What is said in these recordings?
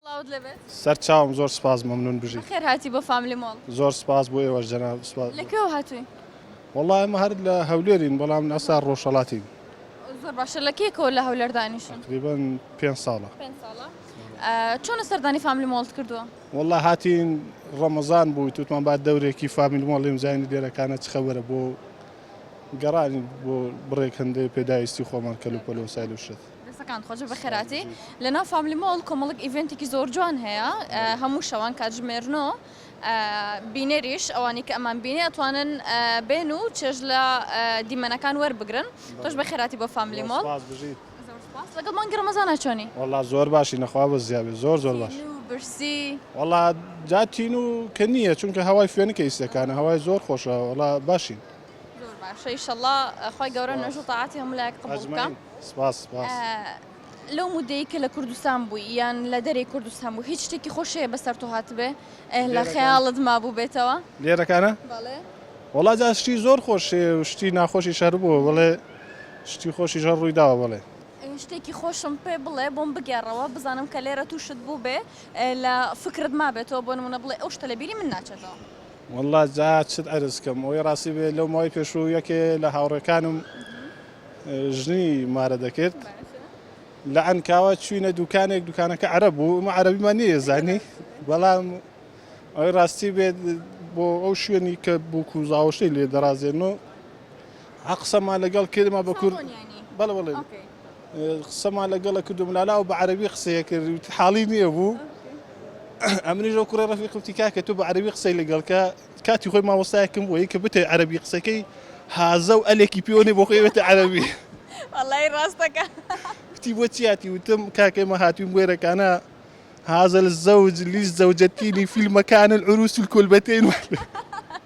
سڵاوت لێبێت. سەر چاوم زۆر سپاس مەمنون بژی. بەخێر هاتی بۆ فاملی مۆڵ. زۆر سپاس بۆ ئێوەش جەناب سپاس. لە کوێوە هاتووی؟ وەڵا ئێمە هەر لە هەولێرین بەڵام ئەستا ڕۆژهەڵاتین. زۆر باشە لە کەیەکەوە لە هەولێر دانیشن؟ تقریبەن پێنج ساڵە. پێنج ساڵە چۆنە سەردانی فاملی مۆڵت کردووە؟ وەڵا هاتین ڕەمەزان بوو توتمان با دەورێکی فامیل مۆڵیم زانی دێرەکانە چ خەبەرە بۆ گەڕانی بۆ بڕێک هەندێ پێداویستی خۆمان کەلوپەلو سایل و شت. دەستەکانت خۆش بێت بە خێراتی لەناو فاملی مۆڵ کۆمەڵک ئیڤێنتێکی زۆر جوان هەیە هەموو شەوان کاتژمێر نۆ بینەریش ئەوانی کە ئەمان بینێ ئەتوانن بێن و چێژ لە دیمەنەکان وەربگرن تۆش بە خێراتی بۆ فاملی مۆڵ سپاس بژیت زۆر سپاس لەگەڵ مانگی ڕەمەزانە چۆنی؟ وەڵڵا زۆر باشینە خوا بەزییا بێت زۆر زۆر باش تینوو و برسی وەڵڵا جا تینوو کە نییە چونکە هەوای فێنکە ئیستەکانە هەوای زۆر خۆشە وەڵڵا باشین. زۆر باشە ئیشەڵا خوای گەورە نوێژ و تاعاتی هەموو لایەک قبوڵ بکا. ئەجمعین سپاس سپاس. لەو مودەیەی کە لە کوردستان بووی یان لە دەرەی کوردستان بوو هیچ شتێکی خۆش هەیە بەسەر تۆ هاتبێ ئه لە لێرەکان خەیاڵت مابووبێتەوە؟ لێرەکانە بەڵێ. وەڵا جا شتی زۆر خۆش هەیە و شتی ناخۆشیش هەر بووە بەڵێ شتی خۆشیش هەر ڕووی داوە بەڵێ. ئه شتێکی خۆشم پێ بڵێ بۆم بگێڕەوە بزانم کە لێرە تووشت بووبێ ئه لە فکرت مابێتەوە بۆ نموونە بڵێ ئەو شتە لە بیری من ناچێتەوە. وەڵڵا جا چت عەرز کەم ئەوەی ڕاستی بێ لەو ماوەی پێشوو یەکێ لە هاوڕێکانم ژنی مارە دەکرد لە عەنکاوە چوینە دوکانێک دوکانەکە عەرە بوو ئمە عەربیمان نیە زانی بەڵام ئەوەی ڕاستی بێت بۆ ئەو شوێنی کە بووک و زاوەشەی لێ دەڕازێن و ە قسەمان لەگەڵ کردما بە کورد بەڵێ بەڵێ قسەمان لەگەڵە کردو ملالا و بە عەرەبی قسەیە کرد وتی حاڵی نییە بوو ئەمنیش ئەو کوڕە ڕەفیقم وتی کاکە تۆ بە عەرەبی قسەی لەگەڵ کە کاتی خۆی مامۆستایەکم بووی کە بتەوێت عەرەبی قسەکەی هازە و ئەلێکی پێوە نێ بۆ خۆی ئەوێتە عەرەبی وەڵای ڕاستەکە وتی بۆ چیاتی وتم کاکە ئێمە هاتووین بوێرەکانە هذا الزوج للزوجتين في المكان العروس الكلبتين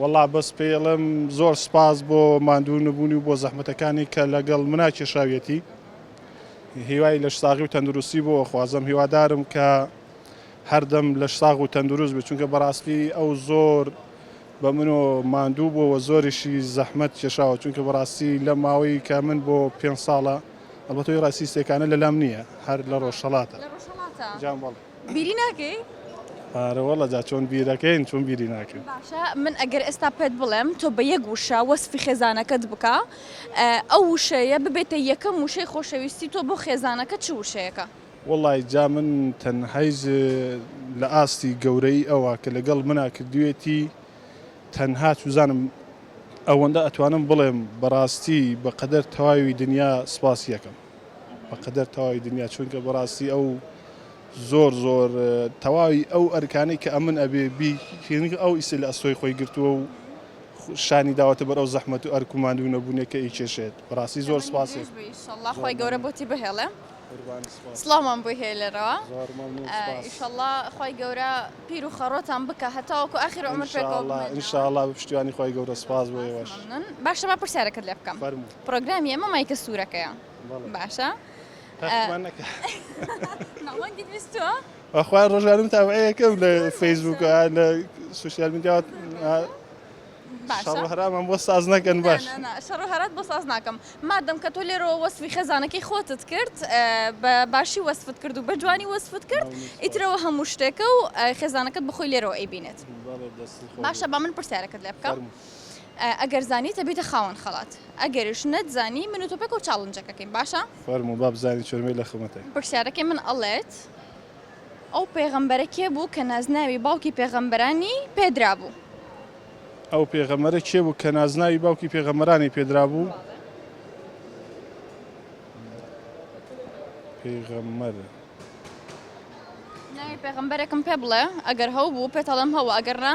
وەڵا بەس پێیڵێم زۆر سپاس بۆ ماندوو نەبوونی و بۆ زەحمەتەکانی کە لەگەڵ منا کێشاویەتی هیوای لەش ساغی و تەندروستی بۆ خوازم هیوادارم کە هەردەم لەش ساغ و تەندروست بێت چونکە بەڕاستی ئەو زۆر بە منۆ ماندوو بۆەوە زۆریشی زەحمەت کێشاوە چونکە بەڕاستی لە ماوەی کە من بۆ پێ ساڵە ئەڵبەتۆی ڕاسیستێکانە لەلام نییە هەر لە ڕۆژهڵاتە جام بەڵێ بیری ناکەی؟ ئارەوەڵا جا چۆن بیرەکەین چۆن بیری ناکەین. باشە من ئەگەر ئێستا پێت بڵێم تۆ بە یەک وشە وەسفی خێزانەکەت بکە ئەو وشەیە ببێتە یەکەم وشەی خۆشەویستی تۆ بۆ خێزانەکەت چ وشەیەکە؟ وەڵای جا من تەنهایز لە ئاستی گەورەیی ئەوە کە لەگەڵ منا کردویەتی تەنها چوزانم ئەوەندە ئەتوانم بڵێم بەڕاستی بەقەدەر تەواوی دنیا سپاسی ئەکەم. بە قەدەر تەواوی دنیا چونکە بەڕاستی ئەو زۆر زۆر تەواوی ئەو ئەرکانەی کە ئەمن ئەبێ بیکەین ئەو ئیسە لە ئەستۆی خۆی گرتووە و شانی داوەتە بەر ئەو زەحمەت و ئەرک و ماندوو نەبوونێکە ئی کێشێت بەڕاستی زۆر سپاسی خۆی گەورە بۆتی بهێڵێ سڵاومان بۆی هەیە لێرەوە ئیشەڵا خی گەورە پیر و خەڕۆتان بکە هەتاوەکو ئاخر عمر پێکەوە انشاءالله بە پشتیوانی خی گەورە سپاس بۆ باشە بە پرسیارەکەت لێ بکەم پڕۆگرامی ئێمە مایکە سوورەکەیە باشە بەخوای ڕۆژانم تاوەیەکەم لە فەیسبوک لە سوسیال میدیات هەرامان بۆ ساز نەکەن باش شەڕ هەرات بۆ ساز ناکەم مادەم کە تۆ لێرەوە وەسفی خێزانەکەی خۆتت کرد بە باشی وەسفت کرد و بە جوانی وەسفت کرد ئیترەوە هەموو شتێکە و خێزانەکەت بخۆی لێرەوە ئەیبینێت باشە بە من پرسیارەکەت لێ بکەم ئەگەر زانیت ئەبیتە خاوەن خەڵات ئەگەریش نەتزانی من و تۆ پێکەوە چاڵنجەکەکەین باشە؟ فەرموو با بزانین چۆرمەی لە خزمەتە. پرسیارەکەی من ئەڵێت ئەو پێغەمبەرە کێ بوو کە نازناوی باوکی پێغەمبەرانی پێدرابوو؟ ئەو پێغەمبەرە کێ بوو کە نازناوی باوکی پێغەمبەرانی پێدرابوو؟ پێغەمبەر. ناوی پێغەمبەرێکم پێ بڵێ ئەگەر هەوبوو پێت ئەڵێم هەوە ئەگەر نا.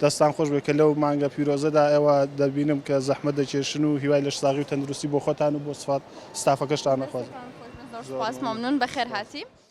دەستتان خۆش بێت کە لەو مانگە پیرۆزەدا ئێوە دەبینم کە زەحمەت دەکێشن و هیوای لەش ساغی و تەندروستی بۆ خۆتان و بۆ ستافەکەشتان ئەخوازم. دەستتان خۆش بێت زۆر سوپاس مەمنون بەخێرهاتی.